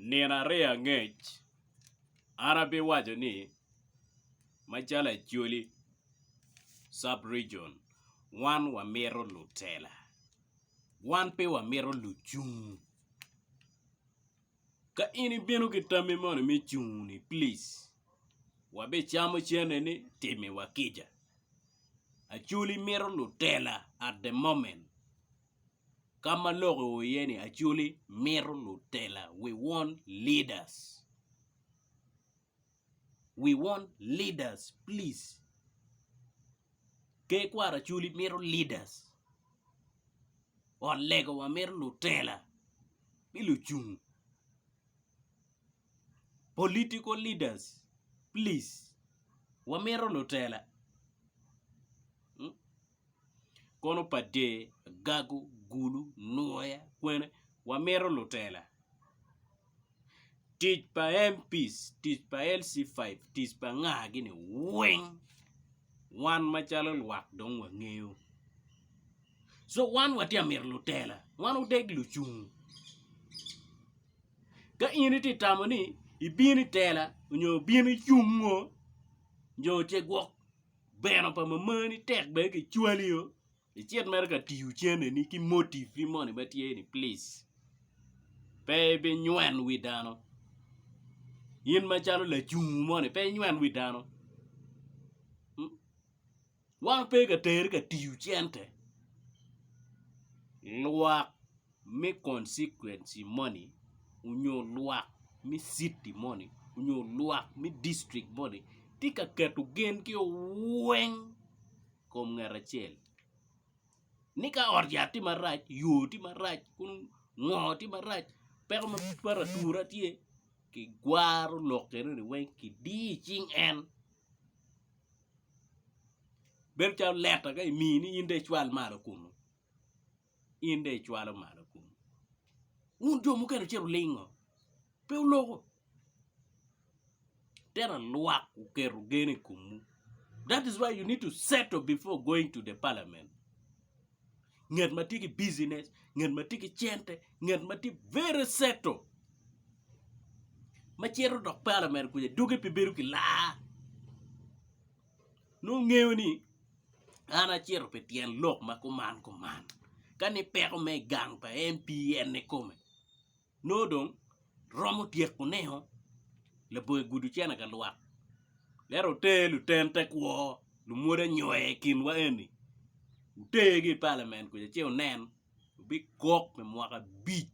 Nino aryo angec an abiwaco ni macalo Acholi sub region wan wamito lutela wan pe wamito lucung ka in ibino ki tammi moni me cung ni plic wabicamo cene ni timiwa kica Acholi mito lutela at the moment. Ka ma lok i ur iye ni Acholi mito lutela, we want leaders, we want leaders please Ker kwaro Acholi mito leaders ot lego wa mito lutela ki lucung political leaders please wamito lutela. Kono pa de, agago, gulu, nwoya, kwene, wamito lutela. Tic pa MPs, tic pa LC5, tic pa nga gini weng wan macalo lwak dong wangeyo. So wan watye ka mito lutela, wan odeg lucung. Ka in itye ka tamo ni ibino i tela nyo ibino icung ngo, nyo cegwok. bene pa mamani tek bene ki cwali o icit mere ka tiyo cene ni ki motive ni moni ma tye ni plic pe ibi nywel wi dano in macalo lacungu moni pe inywel wi dano wan pe ka teri ka tiyo cente lwak me konsekwenci moni onyo lwak me citi moni onyo lwak me dictrik moni tye ka keto gen gi o weng i kom ngat acel ni ka ot yat tye marac yo tye marac ngo tye marac peko ma twero atura tye ki gwaro lok enoni weng ki diyo i cing en bedo calo leta ka imini in dong icwal malo kunu in dong icwalo malo kunu. Wun jo mukene ocito olingo, pe wuloko. Tera lwak oketo gen i komwu. That is why you need to settle before going to the parliament. Ngat ma tye ki business, ngat ma tye ki cente, ngat ma tye very settle. Ma cito dok parliament kuja dugi pe bedo ki laa. nongo ngeyo ni an acito pi tyen lok ma kuman kuman ka ni peko me gang pa en pi en kikome nongo dong romo tyeko neo labongo i gudu cene ka lwak lero oter luten te kwo lumwodo anyoya i kinwa eni otergi i palament kuca ci onen bigok pi mwaka abic.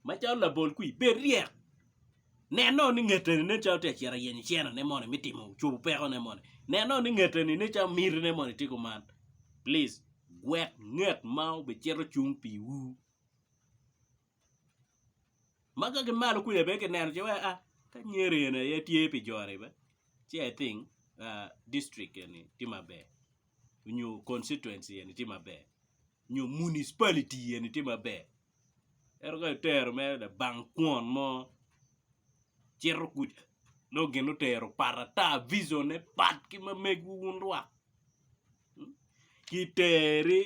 Macalo labol kwir, bed ryek. Nenno ni ngeteni nen calo tye ka cito ayenyo cenone moni me timo cobo pekone moni. Nenno ni ngeteni nen calo mitine moni tye kuman. Plic gwek nget ma obicito cung piwu. Ma ka ki malo kwija bene kineno ce wai a ka Nyeri eni aye tye pi jo-ni bene ci I think district eni tye maber nyo constituency eni tye maber. nyo municipality eni tye maber ento ka itero mere labang kwon mo cito kuca nongo gin otero pat ata vision ne pat ki ma megiwu wun lwak ki teri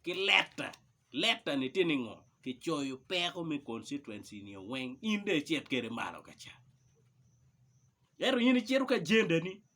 ki leta, leta ni tye ni ngo ki coyo peko me constituency ni weng in dong icit kwede malo kaca ento in icito ki agenda ni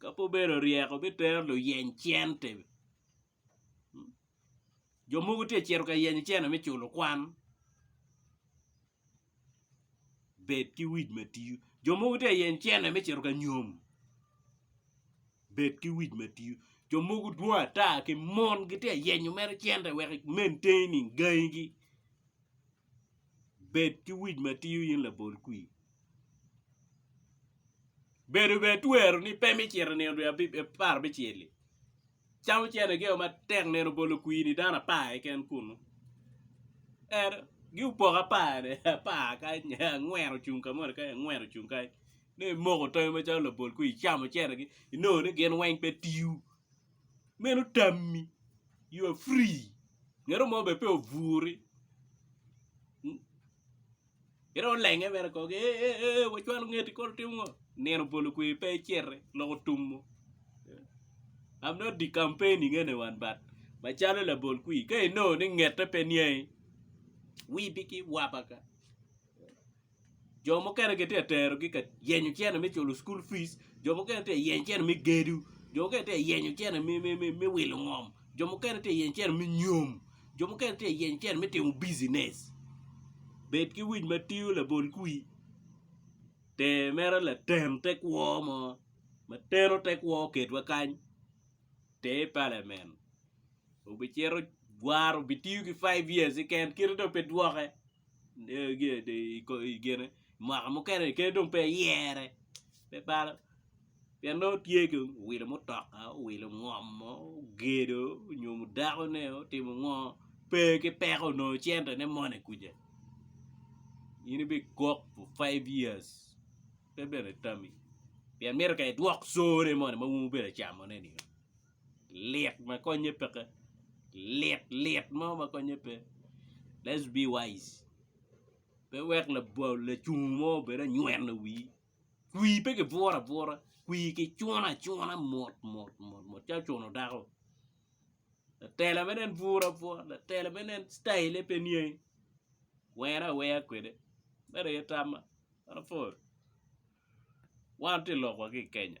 ka pe obedo ryeko bitero luyeny cente, jo mogo tye ka cito ka yenyo cene me culo kwan, bed ki wic ma tiyo, jo mogo tye ka yenyo cene me cito ka nyom, bed ki wic ma tiyo, jo mogo dwong ata ki mon gitye ka yenyo mere cente wek i maintain-ni gangi gi. Bed ki wic ma tiyo in labol kwir. Bedo bene twero ni pe mi cito nino dwe apar me cel-li. Cam ocene geo matek nino bolo kwir-ni dano apar keken kunu. Ento, giopoko apar-re, apar kany, angwen ocung ka moni kany, angwen ocung kany. Ni imoko tomi macalo labol kwir, icamo ocenegi, inongo ni gin weng pe tiyo. meno tammi you are free ngeno mo bene pe oburi ki dong olenge bene kong ki eeh wacwalo ngeti kong lutimo ngo nino obolo kweri pe iciti lok otumo I'm not the campaigning anyone but macalo labol kwir ka inongo ni ngete pe niangi wibi ki waba ka. Jo mukene gitye ka terogi ka yenyo cene me culo cukul fij jo mukene gitye ka yenyo cene me gedo jo mukene gitye ka yenyo cene me wilo ngom jo mukene gitye ka yenyo cene me nyom jo mukene gitye ka yenyo cene me timo bijinec bed ki wic ma tingo labol kwi ter mere laten te kwo mo ma teno te kwo oketwa kany ter i palamen obicito obitiyo ki five years keken kite dong pe dwoke. mwaka mukene kadi dong pe iyere pe balo pien nongo tye ki owilo mutoka owilo ngomo ogedo onywomo dakone otimo ngo pe ki peko onongo centone moni kuca in ibikok for five years pe bene tami pien mito ka idwok sure moni ma wun wubedi camone-ni. lit ma konye peke lit lit mo ma konye pe let's be wise pe wek lacungu mo obed anyweno wi kwi pe ki buru abura kwi ki cunu acuna mot mot mot mot calo cuno dako latela meno en buru abura latela meno en citayine pe niangi were aweya kwede mere aye tamma one tye lok wa ki i Kenya.